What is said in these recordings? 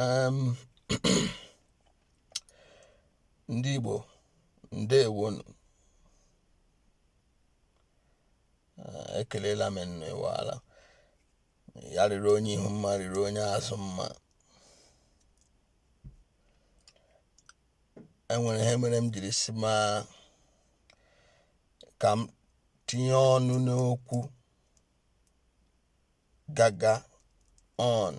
um ndị Igbo ndewonu Ah, ekelela m unu ịwaala ya rịrị onye ihu mma rịrị onye azụ mma enwere ihe mere m jiri sị ma ka m tinye ọnụ n'okwu gaga on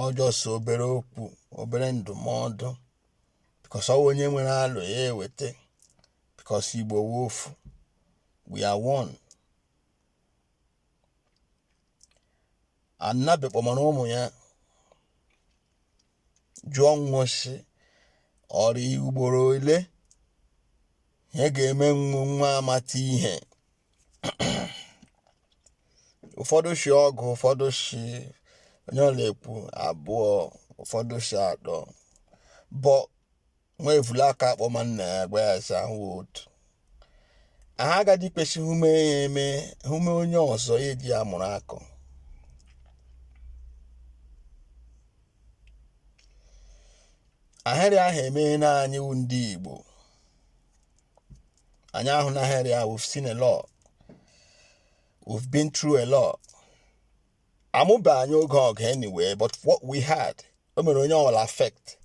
ọ just obere okwu obere ndụmọdụ because ọ wụ onye nwere alo ya eweta because Igbo wụ ofu we are one a nnabe kpọmara ụmụ ya jụọ nwa sị ọ rị ugboro ole ihe ga-eme nwa nwa amata ihe ụfọdụ shi ọgụ ụfọdụ shi onye ọ na-ekwu abụọ ụfọdụ shi atọ but nwa evule akọ akpọ ma nna ya gwa ya sị ahụ otu aha agadi kwesị he mee ya eme he mee onye ọzọ ya eji ya mụrụ akọ ahịrị ahụ emeena anyị wụ ndị Igbo anyị ahụna ahịrị ahụ we've seen a lot we've been through a lot amụbe anyị oge ọgụ anyway but what we heard o mere onye ọwụla affect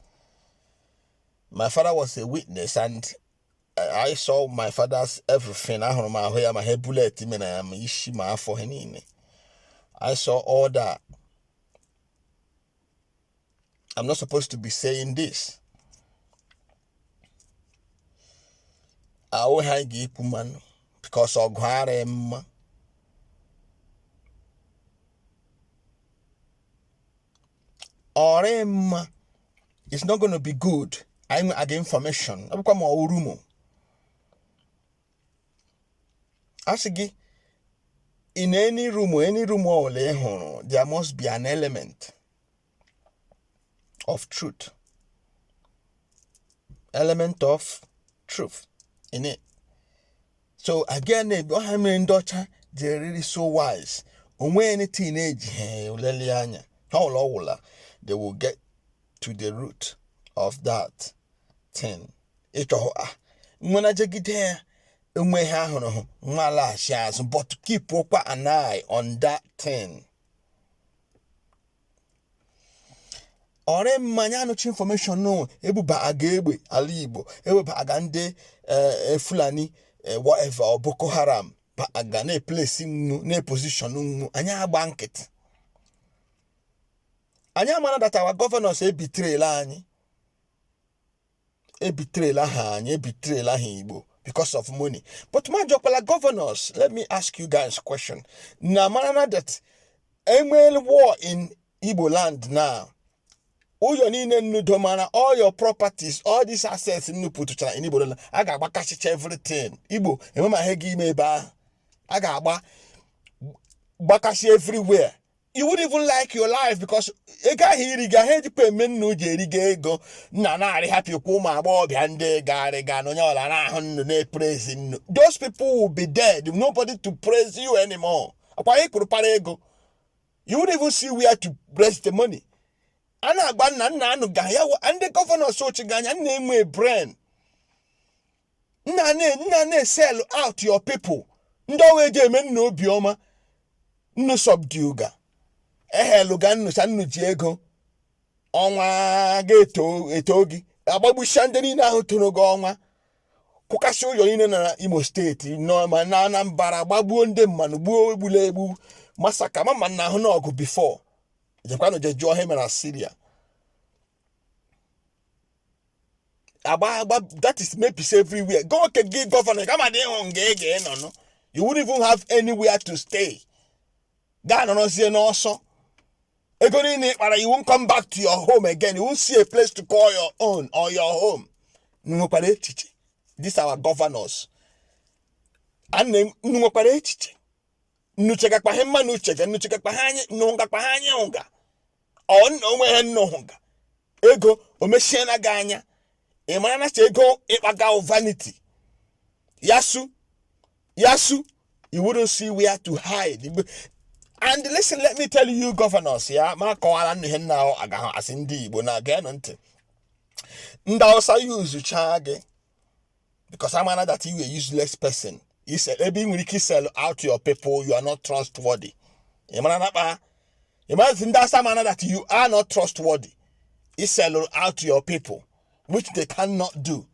my father was a witness and I saw my father's everything ahụrụ m ahụ ya ma he bullet mere ya ma isi ma afọ ha niile I saw all that I'm not supposed to be saying this. ahụ ha ga-ekwu mmanụ because ọgụ arịa mma ọ rịa mma it's not going to be good anyị nwe aga information ọ bụkwa ma ọ wụ rumour a sị gị in any rumour any rumour ọbụla ị nụrụ there must be an element of truth element of truth in it so again na-ebi ọ he mere ndị ọcha ji rịrị so wise o nwee anything na-eji ha eleli anya ha ụlọ ọwụla they will get to the root of that thing ịchọhụ a ah, nwena jegide ya enwe ha ahụrụ hụ nwa laghachi azụ but keepụkwa an eye on that thing ọ rị mma anyị anụcha information na ebubaga egbe ala igbo ewebaga ndị eh, fulani eh, whatever or boko haram ba aga na-eplace nnu na-eposition nnu anyị agba nkịtị anyị amana that our governors ebetrayla anyị ebetrayla ha anyị ebetrayla ha igbo because of money but m ajụkwala governors let me ask you guys question na mara na that enwere war in igbo land now ụyọ niile nnudo mara all your properties all these assets nnu putuchara in igbo land a ga-agbakasịcha everything igbo enwe ma ihe ga-eme ebe ahụ a ga-agbakasị everywhere you wouldn't even like your life because ego ahụ iri gị ahụ ejikwa eme nna uji erigo ego nna na-arị happy kwa ụmụ agbọghọbịa ndị garịga na onye ọla na-ahụ nnu na-epraise nnu those people will be dead nobody to praise you anymore akwa ị kụrụpara ego you wouldn't even see where to raise the money a na-agba nna nna anụ ga ya wa- ndị governors chịga anyị nnu enwe brain nna na- nna na-esell out your people ndị ọwa eji eme nnu obiọma nnu subduga ehailuga nnu sa nnu ji ego ọnwa ga-eto eto gị agbagbucha ndị niile ahụ toro gị ọnwa kwụkasị ụlọ niile na imo state nọ ma na anambra gbagbuo ndị mmanụ gbuo egbula egbu massacre mama na ahụna ọgụ before jekwanụ je jụọ ihe mere na Syria agba agba that is mebisi everywhere go ke gị governor ka m dị ịhụ nga ị ga-enọ nụ you wouldn't even have anywhere to stay ga-anọrọzie n'ọsọ ego niile ị kpara you won't come back to your home again you won't see a place to call your own or your home unu nwekwara echiche these our governors ana m- unu nwekwara echiche nnu chega kpa ha mma na uchege nnu chega kpa ha anyị nọ nga kpa ha anyị ụga ọ nna o nwe ihe nnu hụga ego o mechiela gị anya ị mara na ego ị kpaga vanity ya su ya su you wouldn't see where to hide Igbo- and listen let me tell you governors ya ma kọwara nnu ihe nna ahụ agaghị asị ndị igbo na geenụ ntị ndị awụsa usechaa gị because amana that you a useless person is ebe ị nwere ike sell out your people you are not trustworthy ị mara na kpa ị mazi ndị awụsa amana that you are not trustworthy ị sell out your people which they cannot do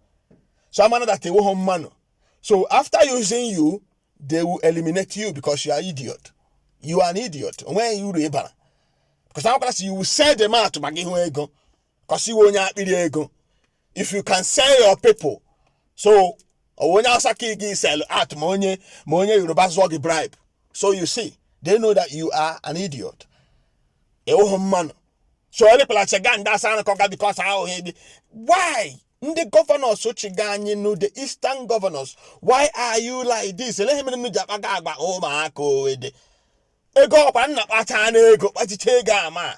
so amana that ị wụghị mmanụ so after using you they will eliminate you because you are idiot you are an idiot o nweghị uru ị bara because a makwara sị you will sell them out maka ihu ego kọs ị wụ onye akpịrị ego if you can sell your people so ọ bụ onye awụsa ka ị ga sell out ma onye ma onye yoruba zụọ gị bribe so you see they know that you are an idiot ị wụhụ mmanụ so elepụlacha ga ndị awụsa anụkọ ga because ahụghị gị why ndị governors chiga anyị nu the eastern governors why are you like this elee ihe mere nnu ji akpaga agwa ụmụaka owede ego ọkwa nna kpacha n'ego kpachicha ego ama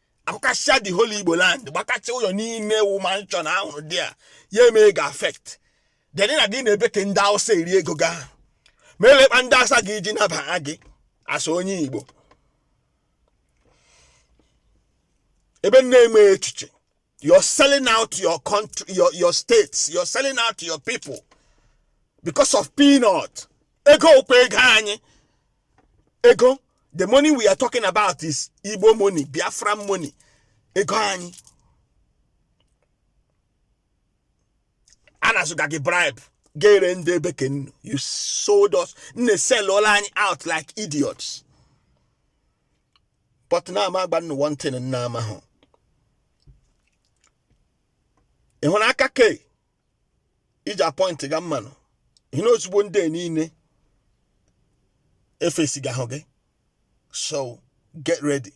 akụkasịa the whole igbo land gbakacha ụlọ niile wụ mansion a rụrụ there ya emee gị affect then na gị na-ebe ka ndị awụsa eri ego gị ahụ ma elee kpa ndị awụsa ga-eji nabaha gị as onye igbo ebe m na-eme echiche you're selling out your country your, your states you're selling out your people because of peanut ego ọ kwa ego anyị ego the money we are talking about is igbo money biafra money ego anyị a na-azụga gị bribe gị eree ndị ebe ke nnu you sold us nnu selụọla anyị out like idiots but na ama agwa nnu one thing nnu amahụ ị hụrụ aka ke ị ji apọịntịga mmanụ ihe na ozugbo ndị a niile efesiga ahụ gị so get ready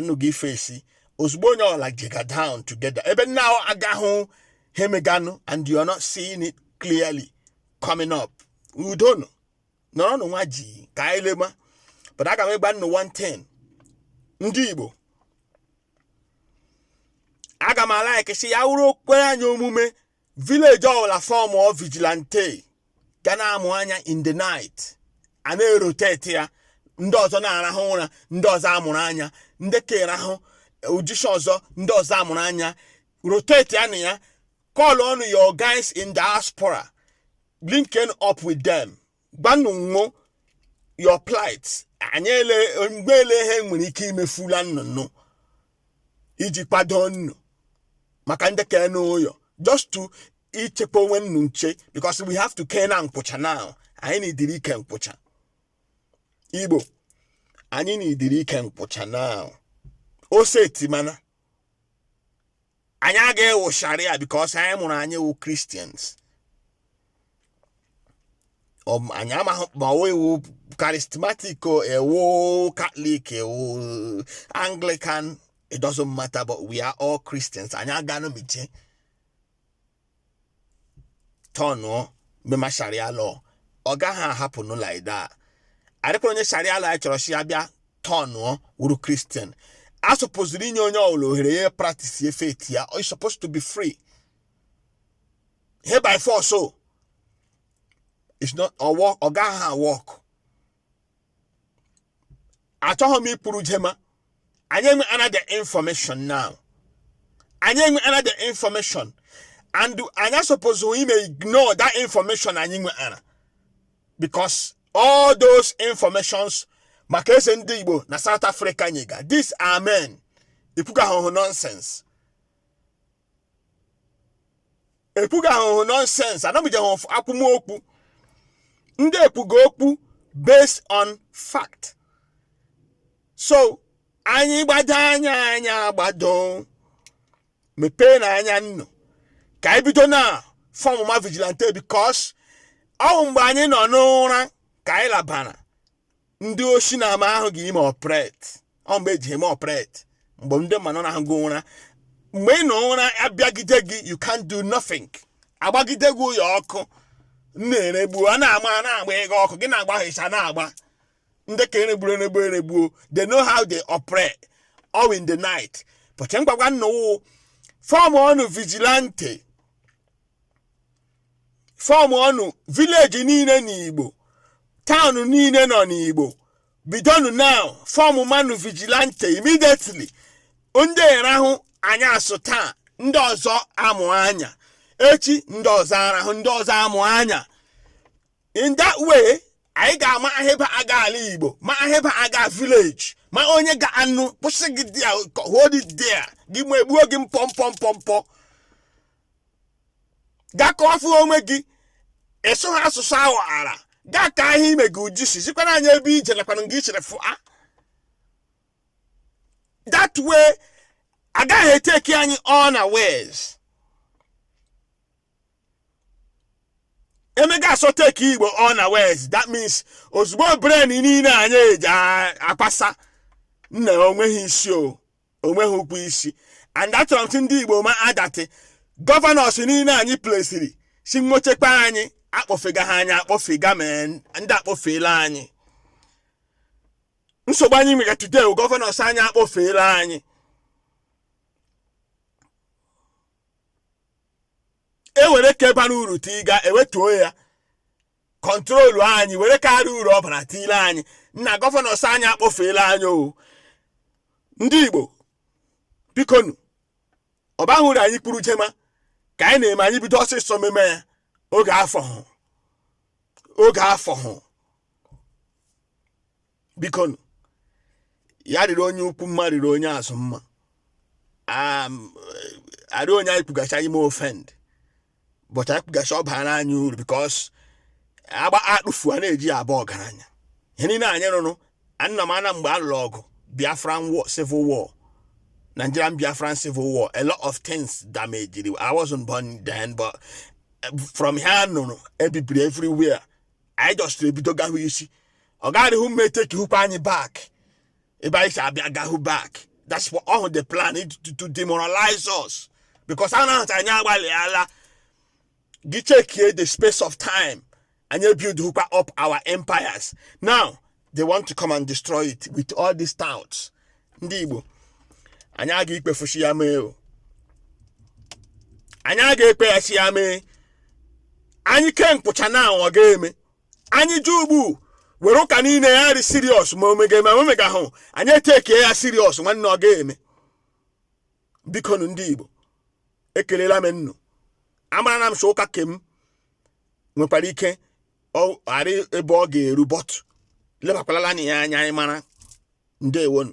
nnu ga ifesi ozugbo onye ọla jega down together ebe nnu aga ahụ ihe emeganụ and you are not seeing it clearly coming up udonu nọrọnụ nwayọ ka anyị lema but aga m ịgwa nnu one thing ndị igbo aga m alaiki sị ya wụrụ o kwere anyị omume village ọbụla formọ vigilante ga na-amụ anya in the night a na-erotate ya ndị ọzọ na-arahụ ụra ndị ọzọ amụrụ anya ndị ke arahụ o jisha ọzọ ndị ọzọ amụrụ anya rotate ya na ya call on your guys in diaspora linking up with them gwanụ wo your plight anyị ele mgbe ele ihe nwere ike imefula nnu nụ iji kwado nnu maka ndị ke nọ ụyọ just to ichekwa onwe nnu nche because we have to kee na nkwụcha now anyị needịrị ike nkwụcha igbo anyị needịrị ike nkwụcha now ose etimana anyị agaghị ịwụ sharia because anyị mụrụ anyị wụ christians Ọ- anyị amaghị ma ị wụ charismatic o ị wụ catholic ị wụ anglican it doesn't matter but we are all christians anyị aganụ miche tọnụọ mema sharia law ọ gaghị ahappen nụ like that adịkwara onye sharia law anyị chọrọ si ya bịa tọnụọ wuru christian a supposeziri inye onye ọbụla ohere ya practice ya faith ya ọ supposed to be free here by force o it's not ọ work ọ gaghị a-work achọghị m ikwuru jema anyị enwe another information now anyị enwe another information and anyị asupposeghị ime ignore that information anyị nwere because all those informations maka eze ndị igbo na south africa nyega these are men ekwuga ihe wụ nonsense ekwuga ihe wụ nonsense anọbijeghị ọf- akwụmokwu ndị ekwuga okwu based on fact so anyị gbado anya anyị agbado mepeenụ anya unu ka anyị bido na fọmụma vigilante because ọ wụ mgbe anyị nọ n'ụra ka anyị labara ndị oshi na ama ahụ ji eme operate ọ mgbe e ji eme operate mgbe ndị mmanụ na-arahụga ụra mgbe ị nọ ụra abịagide gị you can do nothing agbagide gị ụyọ ọkụ na-eregbu a na-ama a na-agba ego ọkụ gị na-agba hịcha na-agba ndị ka eregburu eregbu eregbuo they know how they operate all in the night but ngwa ngwa now fọmọnụ vigilante fọmọnụ village niile n'igbo town niile nọ n'igbo bidonu now fọmmanụ vigilante immediately ndị arahụ anyasụ taa ndị ọzọ amụ anya echi ndị ọzọ arahụ ndị ọzọ amụ anya in that way anyị ga-ama ihe bịaga ala igbo ma ihe bịaga village ma onye ga-anọ kwụsị gị there hold it there gị ma egbuo gị mpọ mpọ mpọ mpọ gị akọfụ onwe gị ị sụ ha asụsụ ahụ ara gị akaa ihe me gị i ji si zikwara anyị ebe i je nakwana nga i siri fụa that way agaghị etake anyị unawares e mega sọ take igbo unawares that means ezigbo brain niile anyị eji a- akwasa nna onweghị isi o onweghị ụkwụ isi and achọrọ m si ndị igbo ma that governors niile anyị placeiri si nwo chekwa anyị akpọfega ha anyị akpọfega ma ndị akpọfeela anyị nsogbu anyị nwere today bụ governors anyị akpọfeela anyị ewere nke bara uru tiga ewetuo ya kọntrolu anyị were karịa uru ọ bara tinyere anyị nna gọvanọs anyị akpọfuela anyị o ndị igbo bikonu ọ bahụ uru anyị kwuru jema ka anyị na-eme anyị bido ọsịsọ meme ya oge afọhụ oge afọhụ bikonu, ya rịrị onye ukwu mma rịrị onye azụ mma Am, eh, arịọ onye anyị kwugacha anyị ma offend bọtụ anyị kwugacha ọ baara anyị uru bikos akpaa atụfu a na-eji ya abụ ọgaranya ihe niile anyị rụrụ anna m ana mgbe a lụrụ ọgụ biafran war civil war nigerian biafran civil war a lot of things damaged i wasn't born then but eh, from ihe m nụrụ e bibiri everywhere anyị jọsịrị ebido gahụ isi ọ gaghịrịhụ mma etekihukwa anyị back ebe anyị si abịa gahụ back that's what all the plan is to, to demoralize us because a na-ahụta anyị agbalịala gị chekie the space of time anyị ebuildhukwa up our empires now they want to come and destroy it with all these touts ndị igbo anyị aga ikwefu sị ya mee o anyị aga ekwe ya sị ya mee anyị ke nkwụcha na ọ ga-eme anyị ji ugbu were ụka niile ya rị siriọs ma o mega ma o megahụ anyị etekie ya siriọs nwanne ọ ga-eme bikonu ndị igbo ekelela m unu amara na m sọ ụka ke m nwekwara ike ọ arị ebe ọ ga-eru bọtụ lebakwalala na ya anya anyị mara ndewonu